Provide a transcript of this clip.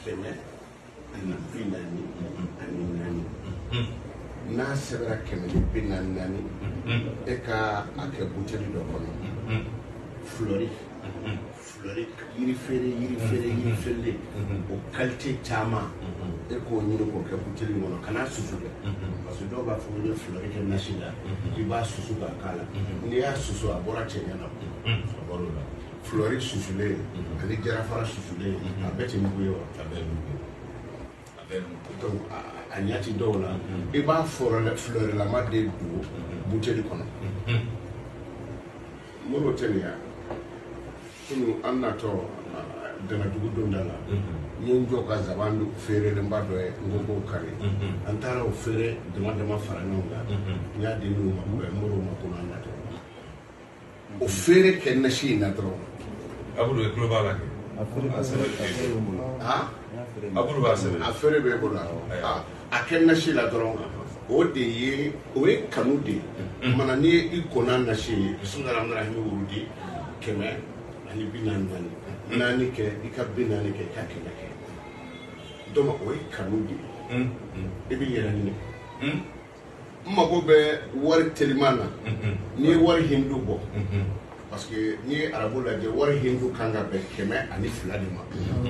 kɛmɛ ani bi naani ani naani n'a sɛbɛra kɛmɛ ni bi naani naani e ka a kɛ buteli dɔ kɔnɔ fulɔri fulɔri yiri feere yiri feere yiri feerelen o kalite caman e k'o ɲini k'o kɛ buteli kɔnɔ kana susu dɛ parce que dɔw b'a fɔ ko ni fulɔri kɛ nasi la i b'a susu k'a k'a la n'i y'a susu a bɔra cɛɲɛ na a bɔr'o la fulɔri susulen mhm. ani jarafara susulen mhm. a bɛɛ tɛ mugu ye wa a bɛɛ mugu a bɛɛ mugu donc a ɲɛ ti dɔw la mhm. i b'a fulɔrilama de don buteli kɔnɔ moribo tɛ nin ya kunu an natɔ danadugu donda la n ye n jɔ ka zaban feerelenba dɔ ye n ko k'o kari an taara o feere dama dama fara ɲɔgɔn kan n y'a di n'u ma moribo ma ko n'an natɔ o feere kɛ nasi in na dɔrɔn abudu e tulo b'a la kɛ a feere b'a sɛbɛn a feere bɛ n bolo abudu b'a sɛbɛn a feere b'e bolo a kɛ nasi la dɔrɔn o de ye o ye kanu de ye mana n'i ye i ko n'a nasi ye sunjata mara ni wurudi kɛmɛ ani bi naani naani naani kɛ i ka bi naani kɛ i ka kɛmɛ kɛ donc o ye kanu de ye i bɛ yɛrɛ ɲini n mago bɛ wari teliman na n'i ye wari hindu bɔ parce que n'i ye arabu lajɛ wari hindu kan ka bɛn kɛmɛ ani fila de ma